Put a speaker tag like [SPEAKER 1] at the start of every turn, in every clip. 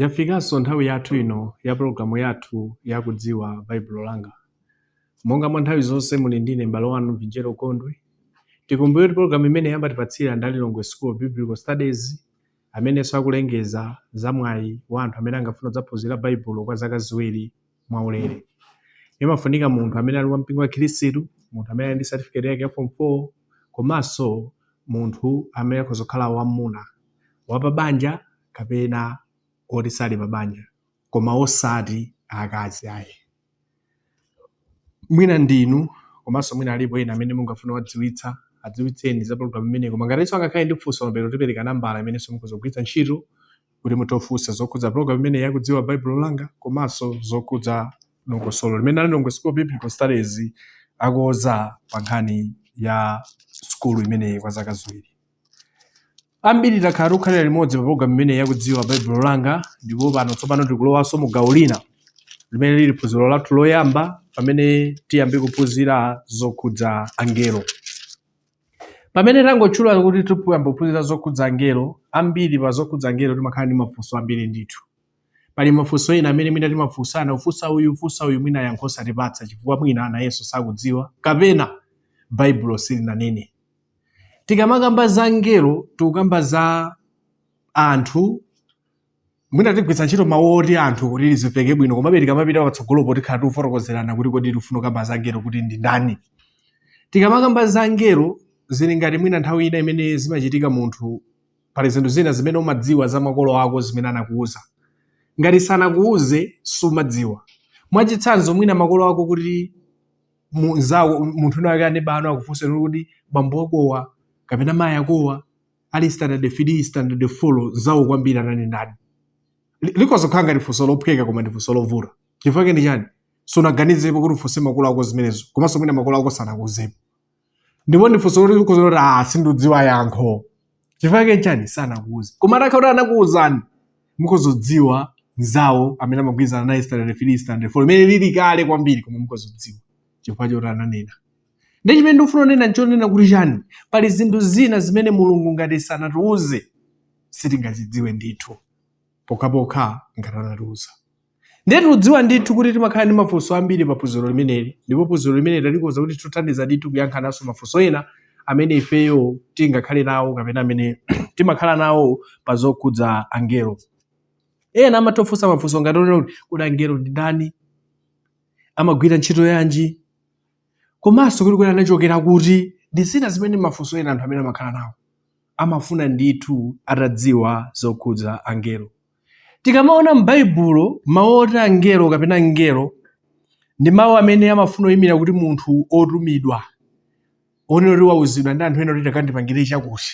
[SPEAKER 1] Yafikanso nthawi yathu ino ya pologalamu yathu ya kudziwa Baibulo langa. Monga mwa nthawi zonse muli ndine m'bale wanu Mvinjero Gondwe. Tikumbukire kuti pologalamu imeneyi amatipatsira ndi a Lilongwe School of Biblical Studies amenenso akulengeza za mwayi wa anthu amene angafuna kudzaphunzira Baibulo kwa zaka ziwiri mwaulere. Imafunika munthu amene ali wa mpingo wa Khristu, munthu amene ali ndi certificate yake ya form 4 komanso munthu amene akhoza kukhala wamuna wapabanja kapena oti sali pabanja koma osati akazi ayi. Mwina ndinu komanso mwina alipo ena amene mungafune kuwadziwitsa adziwitseni za program imeneyi koma ngatinso angakhale ndi funso mapeto tipereka nambala imenenso mukhoza kugwiritsa ntchito kuti mutifunse zokhudza program imeneyi ya kudziwa Baibulo langa komanso zokhudza dongosolo limene a Lilongwe School of Biblical Studies akoza pa nkhani ya sukulu imeneyi kwa zaka ziwiri. Ambiri takhala tikukhalira limodzi pa program imeneyi ya kudziwa Baibulo langa ndipo pano tsopano tikulowanso mu gawo lina limene lili phunziro lathu loyamba pamene tiyambe kuphunzira zokhudza angelo. Pamene tangotchula kuti tikuyamba kuphunzira zokhudza angelo, ambiri pa zokhudza angelo timakhala ndi mafunso ambiri ndithu. Pali mafunso ena amene mwina timafunsana, ufunsa uyu, ufunsa uyu, mwina yankho osatipatsa chifukwa mwina nayenso sakudziwa, kapena Baibulo silinanene. Tikamakamba za angelo, tikukamba za anthu mwina tigwiritsa ntchito mawu oti anthu kuti lizimveke bwino komabe tikamapita patsogolopo tikhala tikufotokozerana kuti kodi tikufuna kukamba za angelo kuti ndi ndani tikamakamba za angelo zili ngati mwina nthawi ina imene zimachitika munthu pali zinthu zina zimene umadziwa za makolo ako zimene anakuuza ngati sanakuuze sumadziwa mwachitsanzo mwina makolo ako kuti munzawo munthu wina wake neba wanu akufunsa kuti bambo akowa kapena mayi akowa ali standard 3 standard 4 nzawo kwambiri anali ndani Li- likhoza kukhala ngati funso lophweka koma ndi funso lovuta chifukwa chake ndi chani sunaganizepo kuti ufunse makolo ako zimenezo komanso mwina makolo ako sanakuuzepo ndipo ndi funso loti ukhoza kuti ah sindikudziwa yankho chifukwa chake chani sanakuuze koma atakhala kuti anakuuzani mukhoza kudziwa nzawo amene amagwirizana naye standard 3 standard 4 imene lili kale kwambiri koma mukhoza kudziwa chifukwa choti ananena ndi chimene ndikufuna kunena nchonena kuti chani pali zinthu zina zimene mulungu ngati sanatiuze sitingazidziwe ndithu pokhapokha ngati anatiuza ndiye tikudziwa ndithu kuti timakhala ndi mafunso ambiri pa phunziro limeneli ndipo phunziro limeneli talikonza kuti litithandize ndithu kuyankhananso mafunso ena amene ifeyo tingakhale nawo kapena amene timakhala nawo pa zokhudza angelo ena amatofunsa mafunso ngati onena kuti kodi angelo ndi ndani amagwira ntchito yanji komanso kuti kodi anachokera kuti ndi zina zimene ndi mafunso ena anthu amene amakhala nawo. Amafuna ndithu atadziwa zokhudza angelo. Tikamaona m'Baibulo mawu oti angelo kapena mngelo ndi mawu amene amafuna kuyimira kuti munthu wotumidwa onena kuti wauzidwa ndi anthu ena kuti takandipangire chakuti.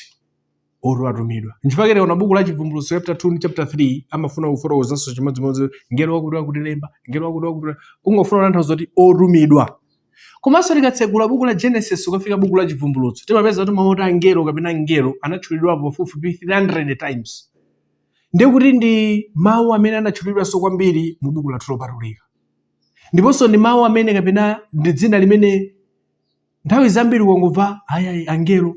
[SPEAKER 1] oti watumidwa nchifukwa chake tikaona buku la chivumbulutso chapter 2 ndi chapter 3 amafuna kufotokozanso chimodzimodzi ngelo wakuti wakuti lemba ngelo wakuti wakuti kungofuna kutanthauza kuti otumidwa komanso tikatsegula buku la genesis kukafika buku la chivumbulutso timapeza kuti mawu oti angelo kapena ngelo anatchulidwapo pafupifupi 300 times ndiye kuti ndi mawu amene anatchulidwanso kwambiri mu buku lathu lopatulika ndiponso ndi mawu amene kapena ndi dzina limene nthawi zambiri ukangomva a iyayi angelo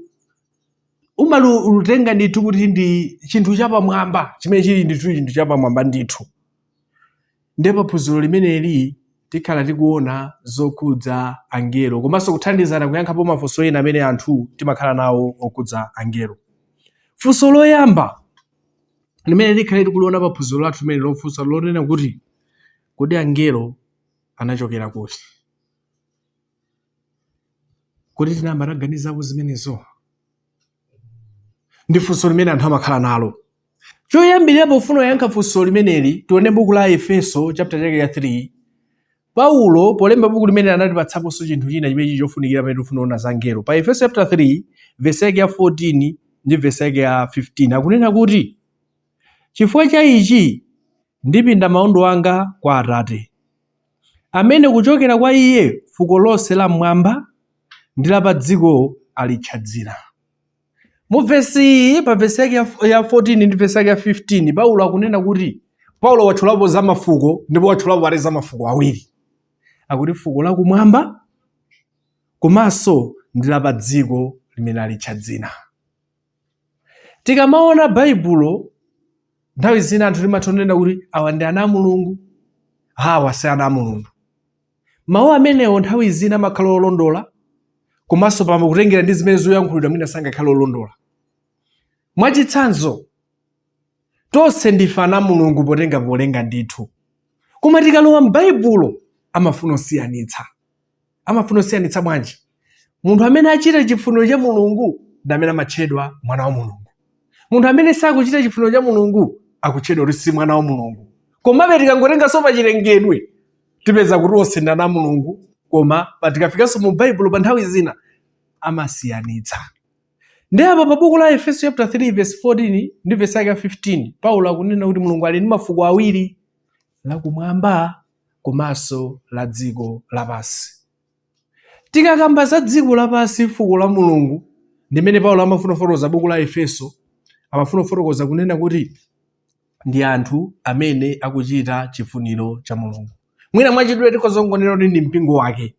[SPEAKER 1] umalitenga ndithu kuti ndi chinthu chapamwamba chimene chili ndithu chinthu chapamwamba ndithu nde pa phunziro limeneli tikhala tikuona zokhudza angelo komanso kuthandizana kuyankhapo mafunso ena amene anthu timakhala nawo okhudza angelo funso loyamba limene tikhale tikuliona pa phunziro lathu limeneli lofunsa lonena kuti kodi angelo anachokera kuti Kodi tinayamba taganizapo zimenezo? Ndi funso limene anthu amakhala nalo. Choyambirira pofuna kuyankha funso limeneli, tione buku la Aefeso chapter chake ya 3. Paulo polemba buku limeneli anatipatsaponso chinthu china chimene chili chofunikira pamene tikufuna kuona za angelo. Pa Efeso chapter 3 vesi yake ya 14 ndi vesi yake ya 15 akunena kuti, Chifukwa cha ichi ndipinda maondo anga kwa Atate, amene kuchokera kwa Iye fuko lonse la m'mwamba ndi la pa dziko alitcha dzina. Mu vesi iyi, pa vesi yake ya 14 ndi vesi yake ya 15, Paulo akunena kuti Paulo watchulapo za mafuko ndipo watchulapo pale za mafuko awiri. Akuti fuko la kumwamba komanso ndi la pa dziko limene alitcha dzina. Tikamaona Baibulo, nthawi zina anthu timatha kunena kuti awa ndi ana a Mulungu, awa si ana a Mulungu. Mawu amenewo nthawi zina amakhala olondola, komanso pamene kutengera ndi zimene zikuyankhulidwa mwina sangakhale olondola. Mwachitsanzo, tonse ndife ana a Mulungu potenga polenga ndithu, koma tikalowa m'Baibulo amafuna kusiyanitsa. amafuna kusiyanitsa bwanji munthu amene achita chifuniro cha mulungu ndi amene amatchedwa mwana wa mulungu munthu amene sakuchita chifuniro cha mulungu akutchedwa kuti si mwana wa mulungu komabe tikangotenganso pa chilengedwe tipeza kuti onse ndi ana a mulungu koma pa- tikafikanso mu baibulo pa nthawi zina amasiyanitsa ndiye apa pa buku la efeso chapter 3 verse 14 ndi verse yake ya 15 paulo akunena kuti mulungu ali ndi mafuko awiri lakumwamba komanso la dziko lapansi. Tikakamba za dziko lapansi, fuko la Mulungu, ndimene Paulo amafuna kufotokoza buku la Efeso, amafuna kufotokoza kunena kuti ndi anthu amene akuchita chifuniro cha Mulungu. Mwina mwachidule tikhoza kungonena kuti ndi mpingo wake,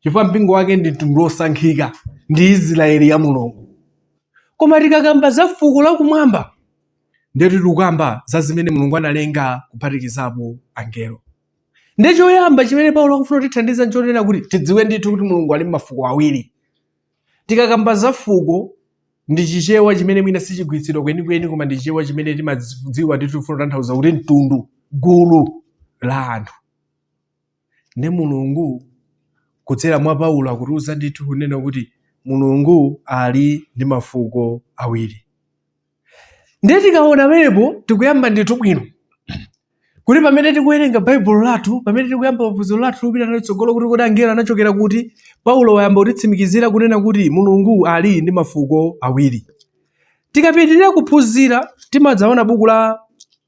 [SPEAKER 1] chifukwa mpingo wake ndi mtundu wosankhika, ndi Israeli ya Mulungu. Koma tikakamba za fuko lakumwamba, ndiye kuti tikukamba za zimene mulungu analenga kuphatikizapo angelo ndiye choyamba chimene paulo akufuna kutithandiza nchonena kuti tidziwe ndithu kuti mulungu ali ndi mafuko awiri tikakamba za fuko ndi chichewa chimene mwina sichigwiritsidwa kwenikweni koma ndi chichewa chimene timadziwa ndithu tifuna kutanthauza kuti mtundu gulu la anthu ndiye mulungu kudzera mwa paulo akutiuza ndithu kunena kuti mulungu ali ndi mafuko awiri ndiye tikaona pamenepo tikuyamba ndithu bwino kuti pamene tikuwerenga baibulo lathu pamene tikuyamba phunziro lathu lopita nalo chitsogolo kuti kodi angelo anachokera kuti paulo wayamba kutitsimikizira kunena kuti mulungu ali ndi mafuko awiri tikapitirira kuphunzira timadzaona buku la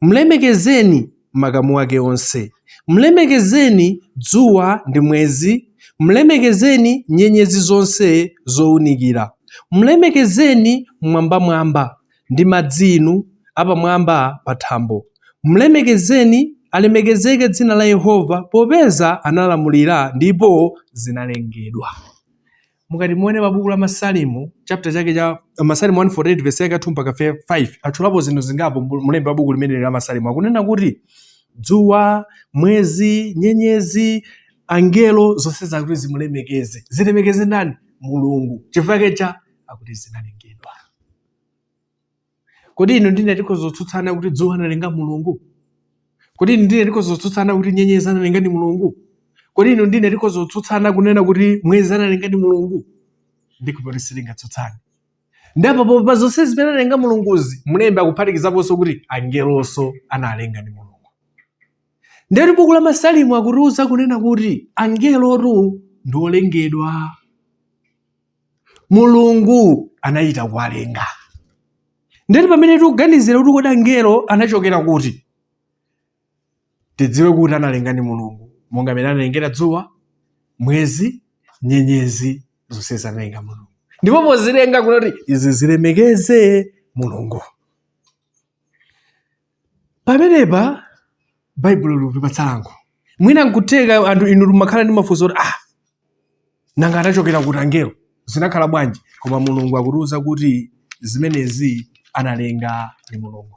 [SPEAKER 1] Mlemekezeni, makamu ake onse. Mlemekezeni, dzuwa ndi mwezi. Mlemekezeni, nyenyezi zonse zounikira. Mlemekezeni, m'mwambamwamba, ndi madzi inu, apamwamba pa thambo. Mlemekezeni, alemekezeke dzina la Yehova, popeza analamulira ndipo zinalengedwa. Mukati muone pa buku la Masalimo, chapter chake cha Masalimo 148 verse yake ya 2 mpaka 5, atchulapo zinthu zingapo mlembi wa buku limeneli la Masalimo. Akunena kuti dzuwa, mwezi, nyenyezi, angelo zonse zakuti zimulemekeze. Zilemekeze ndani? Mulungu. Chifukwa chani? Akuti zinalengedwa. Kodi inu ndine tikhoza kutsutsana kuti dzuwa analenga Mulungu? Kodi inu ndine tikhoza kutsutsana kuti nyenyezi analenga ndi Mulungu? Kodi inu ndine tikhoza kutsutsana kunena kuti mwezi analenga ndi Mulungu? Ndikukhulupirira kuti sitingatsutsane. Ndipo pa zonse zimene analenga Mulunguzi, mlembi akuphatikizaponso kuti angelonso analenga ndi Mulungu. Ndiye kuti buku la Masalimo akutiuza kunena kuti angelotu ndi olengedwa. mulungu anachita kuwalenga ndiye kuti pamene tikuganizira kuti kodi angelo anachokera kuti tidziwe kuti analenga ndi mulungu monga mmene analengera dzuwa mwezi nyenyezi zonsezi analenga mulungu ndipo pozilenga kunali kuti izi zilemekeze mulungu Pamenepa Baibulo likutipatsa yankho. Mwina nkutheka anthu inu mumakhala ndi mafunso oti ah, nanga anachokera kuti angelo? Zinakhala bwanji? Koma Mulungu akutiuza kuti zimenezi anazilenga ndi Mulungu.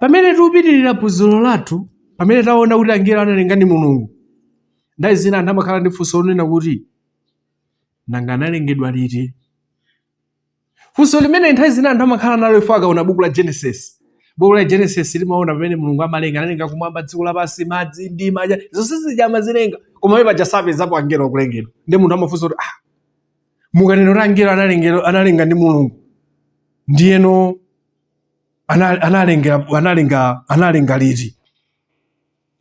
[SPEAKER 1] Pamene tikupitirira phunziro lathu, pamene taona kuti angelo analenga ndi Mulungu, nthawi zina anthu amakhala ndi funso lonena kuti nanga analengedwa liti? Funso limeneli nthawi zina anthu amakhala nalo ifa akaona buku la Genesis. Buku la Genesis limaona pamene Mulungu amalenga, analenga kumwamba, dziko lapansi, madzi, mdima, zonse zija amazilenga. Koma pamene paja sapezapo angelo akulengedwa. Ndiye munthu amafunsa kuti ah, mukanena kuti angelo analengedwa analenga ndi Mulungu. Ndiyeno ana- analenga analenga analenga liti?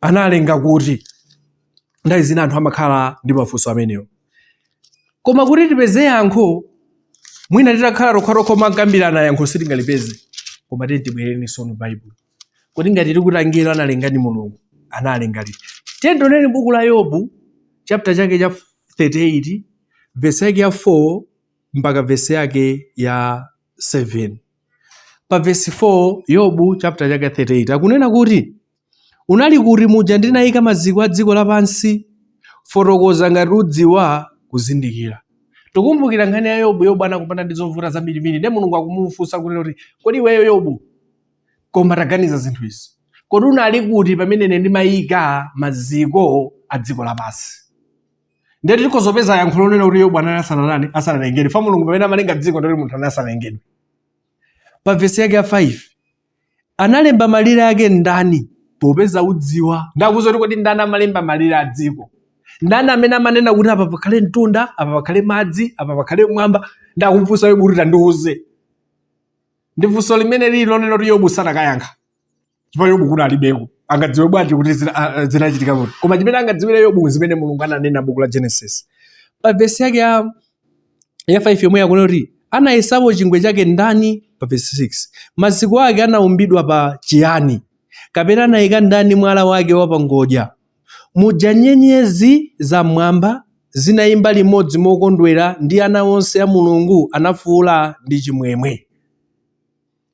[SPEAKER 1] analenga kuti nthawi zina anthu amakhala ndi mafunso amenewo koma kuti tipeze yankho mwina titakhala tokhatokha omakambirana yankho sitingalipeze koma tiye tibwereni sono baibulo kuti ngati tikuti angelo analenga ndi mulungu analenga liti tiye tioneni buku la yobu chapter chake cha 38 vesi yake ya 4 mpaka vesi yake ya 7 pa vesi 4 yobu chapter chake 38 akunena kuti Unali kuti muja ndinayika maziko a dziko lapansi? Fotokoza ngati udziwa kuzindikira. Tikumbukira nkhani ya Yobu. Yobu anakumana ndi zovuta zambirimbiri, ndiye Mulungu akumufunsa kunena kuti, kodi iweyo Yobu, koma taganiza zinthu izi, kodi unali kuti pamene ine ndimaika maziko a dziko lapansi? Ndiye tikhoza kupeza yankho lonena kuti Yobu anali asananani asanalengedwe, fa Mulungu pamene amalenga dziko ndikuti munthu anali asanalengedwe. Pa vesi yake ya 5 Analemba malire ake ndani? Popeza udziwa. Nde akumuuza kuti kodi ndani amalemba malire a dziko? Ndani amene amanena kuti apa pakhale mtunda, apa pakhale madzi, apa pakhale mwamba? Nde akumufunsa Yobu kuti tandiuze. Ndi funso limene lili lonena kuti Yobu sanakayankha. Chifukwa Yobu kuti alibeko. Angadziwe bwanji kuti zina- a- a- zinachitika kuti? Koma chimene angadziwire Yobu zimene Mulungu ananena buku la Genesis. Pa vesi yake ya ya 5 yomweyo akunena kuti anayesapo chingwe chake ndani pa verse 6 maziko ake anaumbidwa pa chiyani kapena anayika ndani mwala wake wa pangodya muja nyenyezi za mmwamba zinayimba limodzi mokondwera ndi ana onse a mulungu anafuula ndi chimwemwe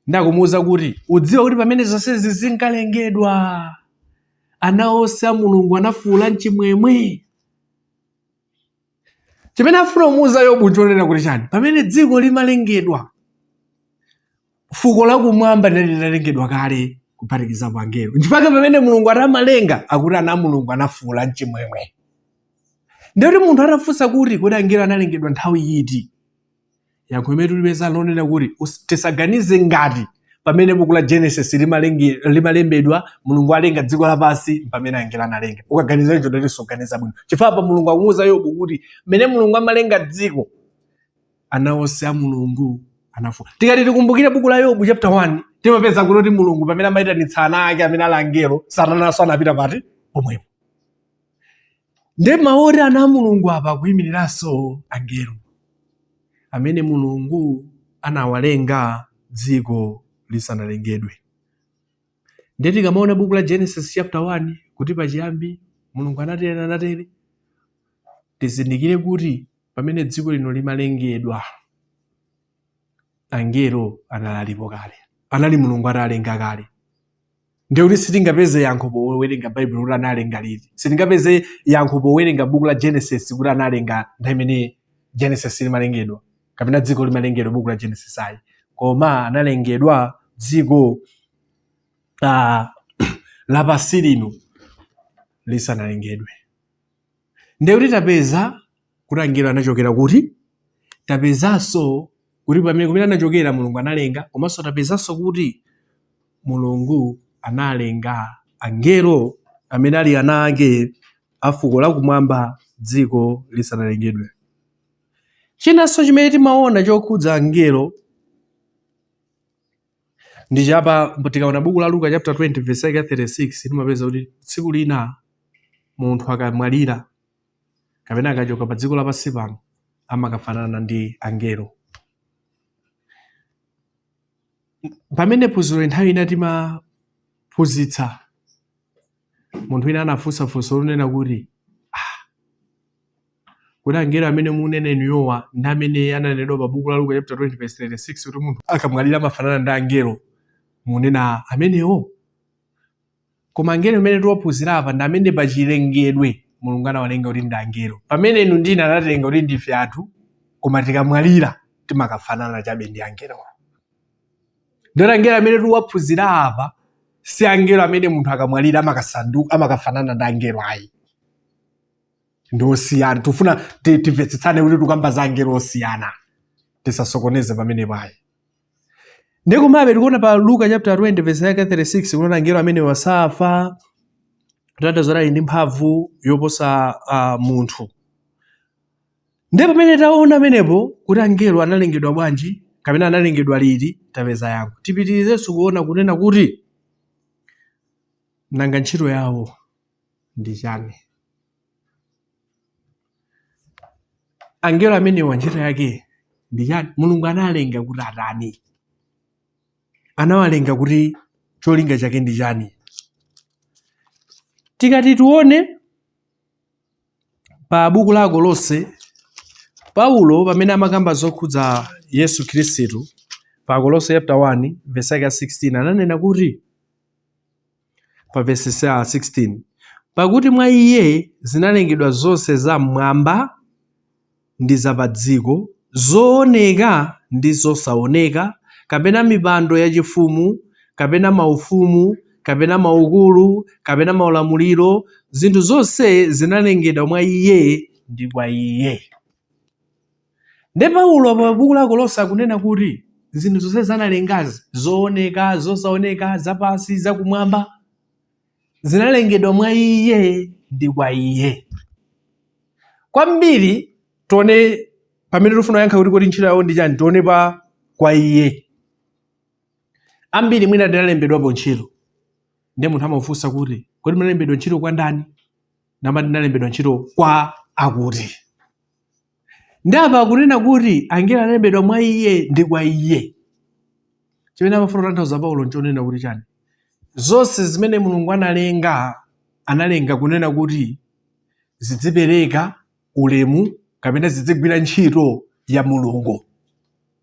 [SPEAKER 1] nde akumuwuza kuti udziwa kuti pamene zonsezi zinkalengedwa ana onse a mulungu anafuula mchimwemwe chimene afuna kumuuza yobu nchonena kuti chani pamene dziko limalengedwa fuko lakumwamba linali linalengedwa kale kuphatikizapo angelo nchifukwa chake pamene mulungu atamalenga akuti ana a mulungu anafuula mchimwemwe ndiye kuti munthu atafunsa kuti kodi angelo analengedwa nthawi yiti yankho limene tulipeza lonena kuti tisaganize ngati pamene buku la genesis limalembedwa mulungu alenga dziko lapansi pamene angelo analenga ukaganiza icho nde kuti suganiza bwino chifukwa pa mulungu akumuuza yobu kuti mmene mulungu amalenga dziko ana onse a mulungu anafuula tikati tikumbukire buku la yobu chapter 1 timapeza kuti mulungu pamene amayitanitsa ana ake amene ali angelo satananso anapita pakati pomwepo nde mawu oti ana a mulungu apa akuyimiriranso angelo amene mulungu anawalenga dziko lisanalengedwe nde tikamaona buku la genesis chapter 1 kuti pachiyambi mulungu anatere anatere tizindikire kuti pamene dziko lino limalengedwa angelo anali alipo kale anali mulungu atalenga kale ndiye kuti sitingapeze yankho powerenga baibulo kuti analenga liti sitingapeze yankho powerenga buku la genesis kuti analenga nthawi imene genesis limalengedwa kapena dziko limalengedwa buku la genesis ayi koma analengedwa dziko uh, lapansi lino lisanalengedwe ndiye kuti tapeza kuti angelo anachokera kuti tapezanso kuti pamene kumene anachokera mulungu analenga komanso tapezanso kuti mulungu analenga angelo amene ali ana ake a fuko lakumwamba dziko lisanalengedwe chinanso chimene timaona chokhudza angelo ndi cha apa tikaona buku la luka chapter 20 verse 36 timapeza kuti tsiku lina munthu akamwalira kapena akachoka pa dziko lapansi pano amakafanana ndi angelo. Pamene phunziro nthawi ina timaphunzitsa, munthu wina anafunsa funso lonena kuti ah, kuti angelo amene munena inuyowa ndi amene ananenedwa pa buku la Luka chapter 20 verse 36 kuti munthu akamwalira amafanana ndi angelo munena amenewo? Koma angelo amene tiwaphunzira apa ndi amene pa chilengedwe Mulungu anawalenga kuti ndi angelo. Pamene inu ndine anatilenga kuti ndife anthu koma tikamwalira timakafanana chabe ndi angelowo. Ndiyoti angelo amene tiwaphunzira apa si angelo amene munthu akamwalira amakafanana ndi angelo ayi. Ndi osiyana. Tifuna ti- timvetsetsane kuti tikamba za angelo osiyana. Tisasokoneze pamenepa ayi. nde komabe tikuona pa luka chapter 20 verse yake 36 kuona angelo amene wosafa kutanthauza ali ndi mphamvu yoposa uh, munthu nde pamene taona amenepo kuti angelo analengedwa bwanji kapena analengedwa liti tapeza yankho tipitirizenso kuona kunena kuti nanga ntchito yawo ndi chani angelo amenewa ntchito yake ndi chani mulungu analenga kuti atani anawalenga kuti cholinga chake ndi chani tikati tione pa buku la akolose paulo pamene amakamba zokhudza yesu khristu pa akolose chapter 1 verse yake ya 16 ananena kuti pa vesi 16, Pakuti mwa iye zinalengedwa zonse za m'mwamba ndi za pa dziko, zooneka ndi zosaoneka, kapena mipando yachifumu, kapena maufumu, kapena maukulu, kapena maulamuliro, zinthu zonse zinalengedwa mwa iye ndi kwa iye. Nde Paulo pa buku la Akolose akunena kuti zinthu zonse zanalengazi, zooneka, zosaoneka, zapansi, zakumwamba, zinalengedwa mwa iye ndi kwa iye. Kwambiri tione pamene tifuna kuyankha kuti kodi ntchito yawo ndi chani, tione pa kwa iye. Ambiri mwina tinalembedwapo ntchito, nde munthu amafunsa kuti kodi munalembedwa ntchito kwa ndani? Mumati ndinalembedwa ntchito kwa akuti. nde apa akunena kuti angelo analengedwa mwa iye ndi kwa iye chimene amafuna kutanthauza paulo nchonena kuti chani zonse zimene mulungu analenga analenga kunena kuti zidzipereka ulemu kapena zidzigwira ntchito ya mulungu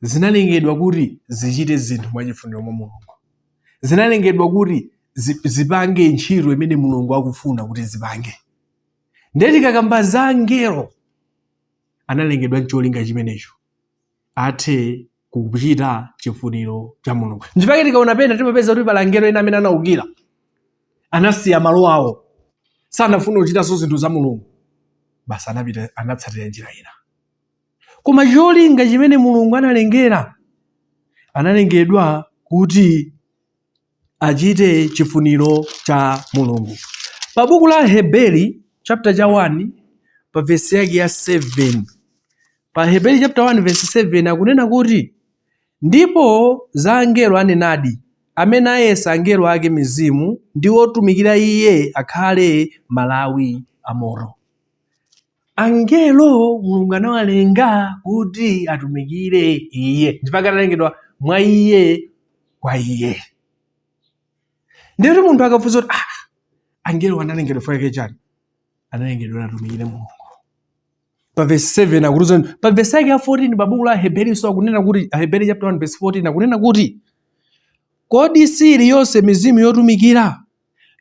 [SPEAKER 1] zinalengedwa kuti zichite zinthu mwa chifuniro mwa mulungu zinalengedwa kuti zipange ntchito imene mulungu akufuna kuti zipange ndiye tikakamba za angelo analengedwa ncholinga chimenecho athe kuchita chifuniro cha mulungu nchifake tikaona pena timapeza kuti pali angelo ena amene anaukira anasiya malo awo sanafuna kuchitanso zinthu za mulungu basi anapita anatsatira njira ina koma cholinga chimene mulungu analengera analengedwa kuti achite chifuniro cha mulungu pa buku la aheberi chaputala cha 1 pa vesi yake ya 7 pa aheberi chapter 1 verse 7 akunena kuti ndipo za angelo anenadi amene ayesa angelo ake mizimu ndi otumikira iye akhale malawi a moto Angelo Mulungu anawalenga kuti atumikire Iye, nchifake analengedwa mwa Iye, kwa Iye. Ndiye kuti munthu akafunsa kuti ah, angelo analengedwa fake chani? Analengedwa atumikire Mulungu. Pa verse 7 akutiuza pa verse yake ya 14 pa buku la Aheberinso akunena kuti Aheberi chapter 1 verse 14 akunena kuti kodi siili yonse mizimu yotumikira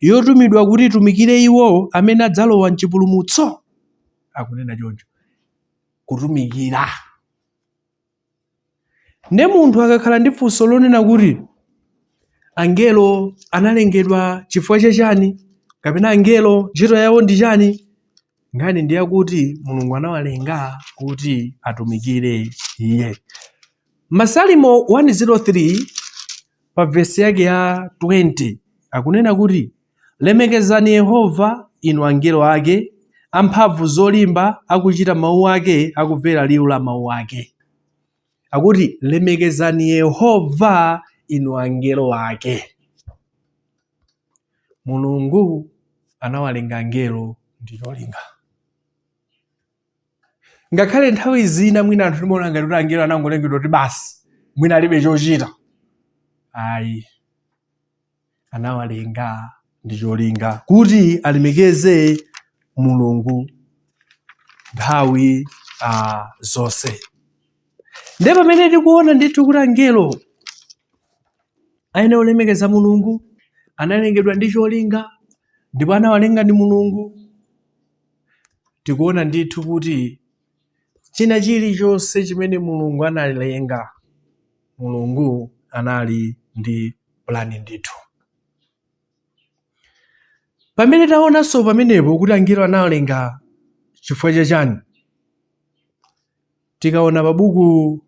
[SPEAKER 1] yotumidwa kuti itumikire iwo amene adzalowa m'chipulumutso? Akunena choncho, kutumikira. Nde munthu akakhala ndi funso lonena kuti angelo analengedwa chifukwa cha chani kapena angelo ntchito yawo ndi chani, Nkhani ndi yakuti Mulungu anawalenga kuti atumikire Iye. Masalimo 103 pa vesi yake ya 20 akunena kuti, Lemekezani Yehova, inu angelo ake, amphamvu zolimba, akuchita mawu ake, akumvera liwu la mawu ake. Akuti, Lemekezani Yehova, inu angelo ake. Mulungu anawalenga angelo ndi cholinga. Ngakhale nthawi zina mwina anthu timaona ngati kuti angelo anangolengedwa kuti basi mwina alibe chochita. Ayi, anawalenga ndi cholinga kuti alemekeze Mulungu nthawi uh, zonse. nde pamene tikuona ndithu kuti angelo ayenera kulemekeza mulungu analengedwa ndi cholinga ndipo anawalenga ndi mulungu tikuona ndithu kuti china chilichonse chimene mulungu analenga mulungu anali ndi pulani ndithu pamene taonanso pamenepo kuti angelo anawalenga chifukwa cha chani Tikaona pa buku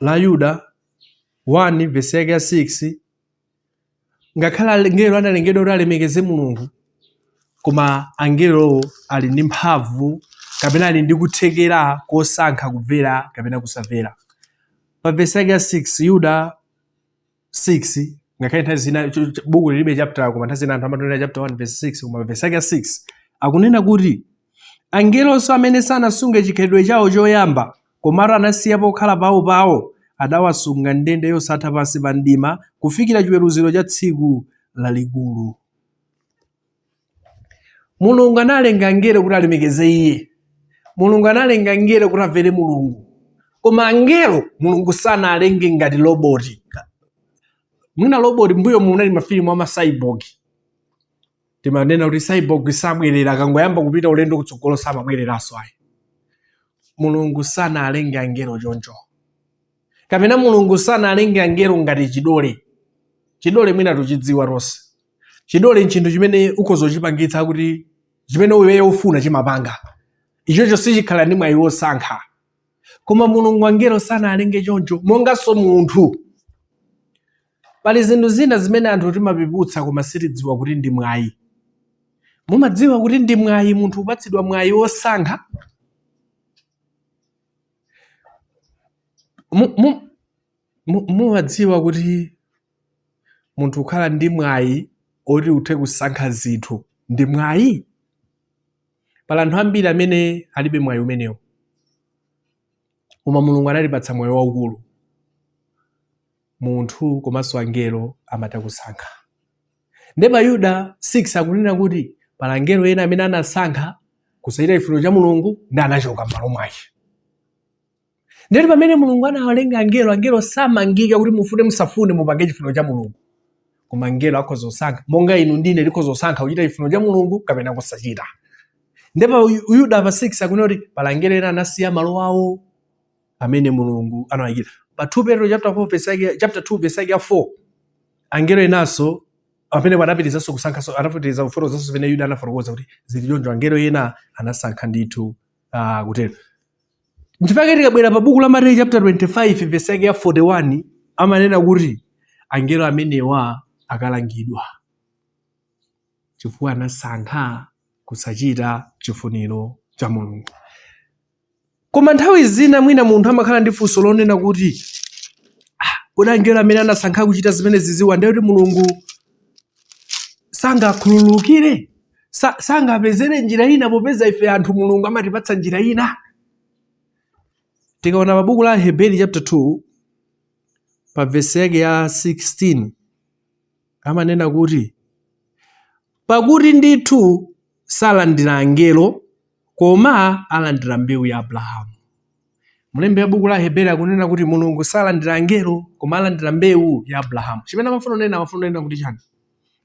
[SPEAKER 1] la Yuda 1 vesi yake ya 6 ngakhale angelo analengedwa kuti alemekeze mulungu koma angelowo ali ndi mphamvu kapena ali ndi kuthekera kosankha kumvera kapena kusamvera pa vesi yake ya 6 yuda 6 ngakhale nthawi zina buku lilibe chapter koma nthawi zina anthu amangonena chapter 1 verse 6 koma verse yake ya 6 akunena kuti angelonso amene sanasunge chikhalidwe chawo choyamba komatu anasiya pokhala pawo pawo adawasunga m'ndende zosatha pansi pa mdima kufikira chiweruziro cha tsiku lalikulu mulungu analenga angelo kuti alemekeze iye mulungu analenga angelo kuti amvere mulungu koma angelo mulungu sanawalenge ngati loboti mwina loboti m'mbuyomu munali mafilimu a ma cyborg timanena kuti cyborg sabwerera akangoyamba kupita ulendo kutsogolo samabwereranso ayi mulungu sanawalenge angelo choncho kapena mulungu sanalenge angelo ngati chidole chidole mwina tuchidziwa tonse chidole nchinthu chimene ukhoza kuchipangitsa kuti chimene iweyo ufuna chimapanga ichocho sichikhala ndi mwayi wosankha koma mulungu angelo sanalenge choncho monganso munthu pali zinthu zina zimene anthu timapeputsa koma sitidziwa kuti ndi mwayi mumadziwa kuti ndi mwayi munthu upatsidwa mwayi wosankha Mumadziwa kuti munthu kukhala ndi mwayi oti uthe kusankha zinthu ndi mwayi? Pali anthu ambiri amene alibe mwayi umenewo, koma Mulungu anatipatsa mwayi waukulu. munthu komanso angelo amatha kusankha. Nde pa Yuda 6 akunena kuti pala angelo ena amene anasankha kusachita chifuniro cha Mulungu ndi anachoka m'malo mwake. Ndiye kuti pamene Mulungu anawalenga angelo, angelo samangika kuti mufune musafune mupange chifuniro cha Mulungu. Koma angelo akhoza kusankha monga inu ndine tikhoza kusankha kuchita chifuniro cha Mulungu kapena kusachita. Nde pa Yuda pa 6 akunena kuti pala angelo ena anasiya malo awo amene Mulungu anawayikira. Pa 2 Petro chapter 4 verse yake chapter 2 verse yake ya 4 angelo enanso amene anapitirizanso kusankhanso anapitiriza kufotokozanso zimene Yuda anafotokoza kuti zili choncho angelo ena anasankha ndithu uh, kutero. Nchifukwa tikabwera pa buku la Mateyu chapter 25 verse yake ya 41 amanena kuti angelo amenewa akalangidwa chifukwa anasankha kusachita chifuniro cha Mulungu. Koma nthawi zina mwina munthu amakhala ndi funso lonena kuti "Ah, kodi angelo amene anasankha kuchita zimene azidziwa ndiye kuti mulungu sangakhululukire Sa- sangapezere njira ina popeza ife anthu mulungu amatipatsa njira ina tikaona pabuku la heberi chapter 2 pa vesi yake ya 16 amanena kuti, Pakuti ndithu salandira angelo, koma alandira mbewu ya Abrahamu. Mlembi wa buku la Aheberi akunena kuti Mulungu salandira angelo, koma alandira mbewu ya Abrahamu. Chimene amafuna kunena, amafuna kunena kuti chani?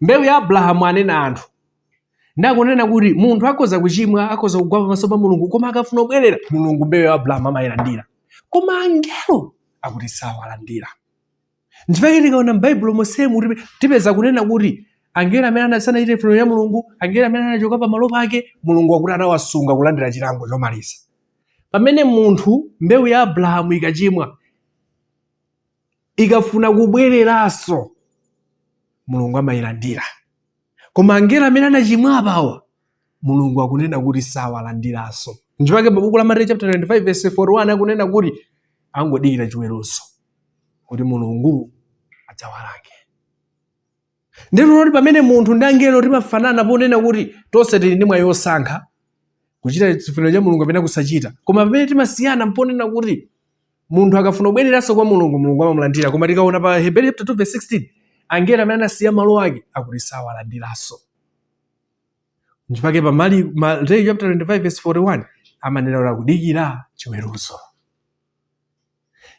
[SPEAKER 1] Mbewu ya Abrahamu anena anthu. Nde akunena kuti munthu akhoza kuchimwa, akhoza kugwa pamaso pa Mulungu, koma akafuna kubwerera, Mulungu mbewu ya Abrahamu amayilandira. Koma angelo akuti sawalandira. nchifukwa tikaona m'baibulo monsemu tipe- tipeza kunena kuti angelo amene ana- sanachite chifuniro cha mulungu angelo amene anachoka pamalo pake mulungu akuti anawasunga kulandira chilango chomaliza pamene munthu mbewu ya abrahamu ikachimwa ikafuna kubwereranso mulungu amayilandira koma angelo amene anachimwa apawa mulungu akunena kuti sawalandiranso nchifukwa pa buku la mateyu chapter 25 verse 41 akunena kuti angodikira chiweruzo kuti mulungu adzawalange ndipo pamene munthu ndi angelo timafanana ponena kuti tonse tili ndi mwayi wosankha kuchita chifuniro cha mulungu kapena kusachita koma pamene timasiyana mponena kuti munthu akafuna kubwereranso kwa mulungu mulungu amamulandira koma tikaona pa heberi chapter 2 verse 16 angelo amene anasiya malo ake akuti sawalandiranso nchifukwa pa mali mateyu chapter 25 verse 41 amanena kuti akudikira chiweruzo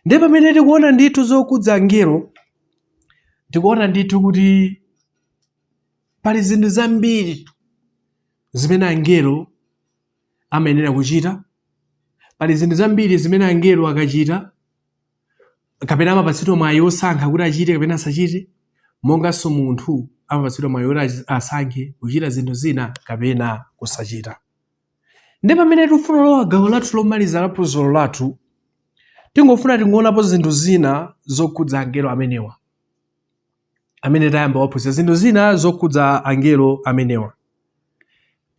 [SPEAKER 1] Ndiye pamene tikuona ndithu zokhudza angelo, tikuona ndithu kuti pali zinthu zambiri zimene angelo amayenera kuchita, pali zinthu zambiri zimene angelo akachita kapena amapatsidwa mwayi wosankha kuti achite kapena asachite, monganso munthu amapatsidwa mwayi woti achi- asankhe kuchita zinthu zina kapena kusachita. Nde pamene tifuna lowa gawo lathu lomaliza la phunziro lathu, tingofuna tingonapo zinthu zina zokhudza angelo amenewa. Amene tayamba kuphunzira zinthu zina zokhudza angelo amenewa.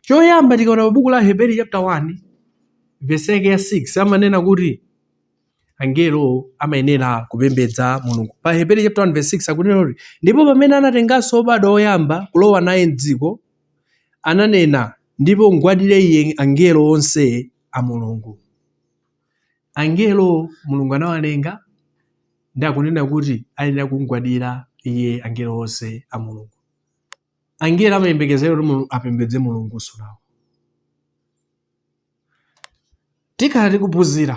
[SPEAKER 1] Choyamba tikaona pa buku la Heberi chapter 1 verse yake ya 6 amanena kuti angelo amayenera kupembedza Mulungu. Pa Heberi chapter 1 verse 6 akunena kuti ndipo pamene anatenganso obadwa oyamba kulowa naye m'dziko ananena ndipo mgwadire iye angelo onse a Mulungu. Angelo Mulungu anawalenga ndi akunena kuti ayenera kumgwadira iye angelo onse a Mulungu. Angelo amayembekezera kuti apembedze Mulungunso nawo. Tikhala tikuphunzira,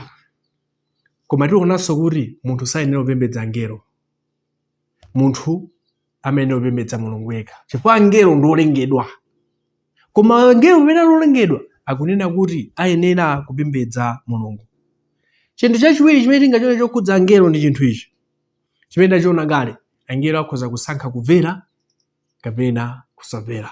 [SPEAKER 1] koma tionanso kuti munthu sayenera kupembedza angelo. Munthu amayenera kupembedza Mulungu yekha, chifukwa angelo ndi olengedwa. Koma angelo pamene ali olengedwa, akunena kuti ayenera kupembedza Mulungu. Chinthu chachiwiri chimene tingachione chokhudza angelo ndi chinthu ichi chimene tachiona kale, angelo akhoza kusankha kumvera kapena kusamvera.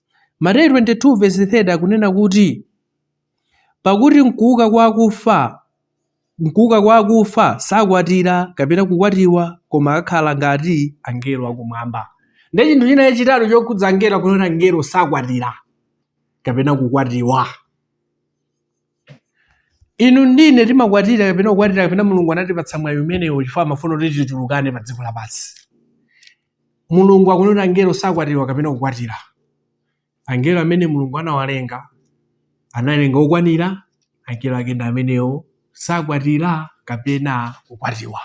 [SPEAKER 1] Mateyu 22 vesi 30 akunena kuti pakuti mkuuka kwa akufa mkuuka kwa akufa sakwatira kapena kukwatiwa koma akhala ngati angelo akumwamba ndi chinthu china chachitatu chokhudza angelo akunena angelo sakwatira kapena kukwatiwa inu ndine timakwatira kapena kukwatiwa kapena mulungu anatipatsa mwayi umenewo chifukwa amafuna kuti tichulukane pa dziko lapansi Mulungu akunena kuti angelo sakwatiwa kapena kukwatira. Angelo amene Mulungu anawalenga, analenga okwanira, angelo ake ndi amenewo, sakwatira kapena kukwatiwa.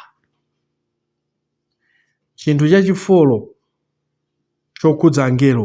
[SPEAKER 1] Chinthu chachifolo chokhudza angelo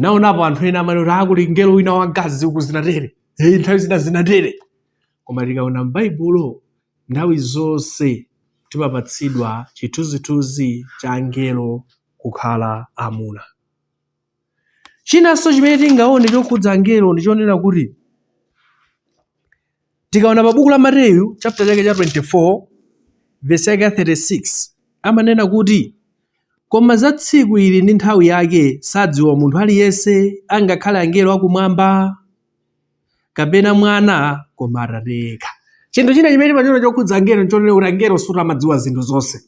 [SPEAKER 1] naonapo anthu ena amati kuti kuli mngelo wina wamkazi uku zinatere, nthawi zina zinatere koma tikaona m'baibulo nthawi zonse timapatsidwa chithunzithunzi cha angelo kukhala amuna chinanso chimene tingaone chokhudza angelo ndi chonena kuti tikaona pa buku la mateyu chapter chake cha 24 vesi yake ya 36 amanena kuti koma za tsiku ilo ndi nthawi yake sadziwa munthu aliyense angakhale angelo akumwamba kapena mwana koma atate yekha chinthu china chimene timachiona chokhudza angelo nchonena kuti angelo sikuti amadziwa zinthu zonse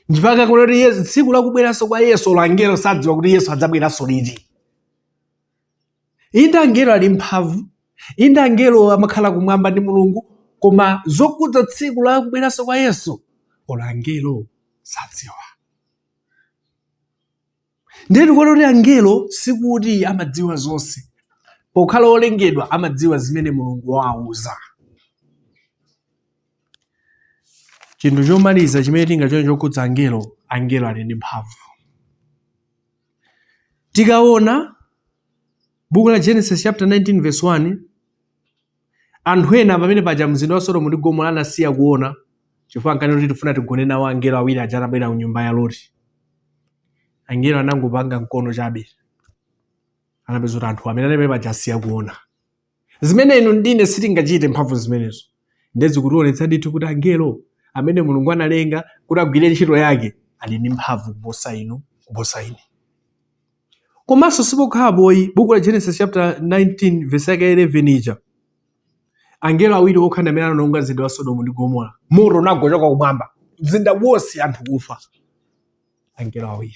[SPEAKER 1] mpaka kunena kuti tsiku lakubweranso kwa yesu olo angelo sadziwa kuti yesu adzabweranso liti Inde angelo ali ndi mphamvu, inde angelo amakhala kumwamba ndi Mulungu, koma zokhudza tsiku la kubweranso kwa Yesu olo angelo sadziwa. Ndiye tikuona kuti angelo sikuti amadziwa zonse, pokhala olengedwa amadziwa zimene Mulungu wawauza. Chinthu chomaliza chimene tingachione chokhudza angelo, angelo ali ndi mphamvu. Tikaona buku la Genesis chapter 19 verse 1 anthu ena pamene paja mzinda wa Sodomu ndi Gomora anasiya kuona chifukwa ankanena kuti tifuna tigone nawo angelo awiri aja atabwera ku nyumba ya Loti. Angelo anangopanga mkono chabe anapezeka kuti anthu amene anali paja asiya kuona. zimene inu ndine sitingachite mphamvu zimenezo ndiye zikutionetsa ndithu kuti angelo amene mulungu analenga kuti agwire ntchito yake ali ndi mphamvu kuposa inu kuposa ine komanso sipokhapo ayi buku la genesis chapter 19 verse yake 11 ija angelo awiri okha ndi amene anaononga mzinda wa sodomu ndi gomora moto unagwa kuchoka kumwamba mzinda wonse anthu kufa angelo awiri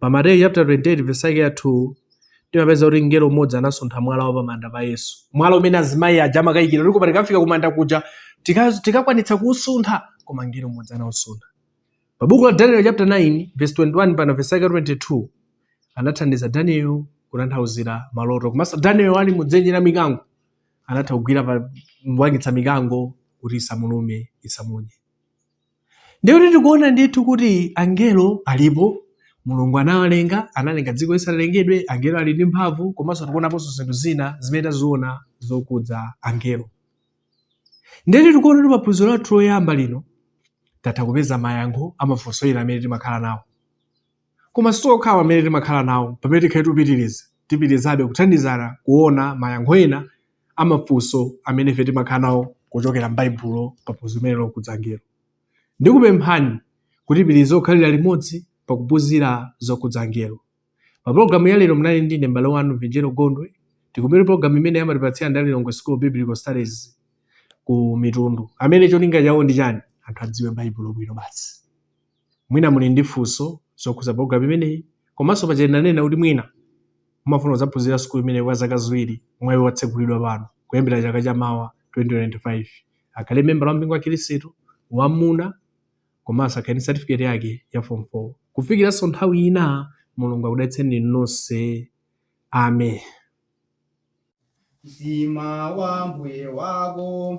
[SPEAKER 1] Pa Mateyu chaputala 28 vesi yake ya 2 timapeza kuti mngelo umodzi anasuntha mwala wa pamanda pa Yesu, mwala umene azimayi aja amakayikira kuti koma tikafika kumanda kuja tikakwanitsa tika kuusuntha, koma mngelo umodzi anausuntha. Pa buku la Daniel chapter 9 verse 21 pana verse yake 22 anathandiza Daniel kutanthauzira maloto komanso Daniel ali mudzenje la mikango anatha kugwira pa mbwangitsa mikango kuti isamulume isamunye. ndiye kuti tikuona ndithu kuti angelo alipo mulungu anawalenga analenga dziko lisanalengedwe angelo ali ndi mphamvu komanso tikuonaponso zinthu zina zimene taziona zokudza angelo ndiye kuti tikuona kuti paphunziro lathu loyamba lino tatha kupeza mayankho amafunso ena amene timakhala nawo Koma sitokhawa amene timakhala nawo pamene tikhale tupitiliza tipitilizabe kuthandizana kuona mayankho ena a mafunso amene ife timakhala nawo kuchokera m'Baibulo pa phunziro limeneli lokudza angelo. Ndikupemphani kuti tipitilize kukhalira limodzi pa kuphunzira zokudza angelo. Pa pologalamu ya lero munali ndine m'bale wanu Vinjero Gondwe tikumane pologalamu imene amatipatsira ndi a Lilongwe School of Biblical Studies ku Mitundu amene cholinga chawo ndi chani anthu adziwe Baibulo bwino basi. Mwina muli ndi funso zokhudza pulogalamu imeneyi komanso paja tinanena kuti mwina mumafuna kudzaphunzira sukulu imeneyi kwa zaka ziwiri, mwayi watsegulidwa pano kuyambira chaka cha mawa 2025. Akhale membala wa mpingo wa Khristu wa mmuna komanso akhale ndi satifiketi yake ya fomu 4. Kufikiranso nthawi ina, Mulungu akudalitseni nonse. Amen. Mtima
[SPEAKER 2] wa Mbuye wako.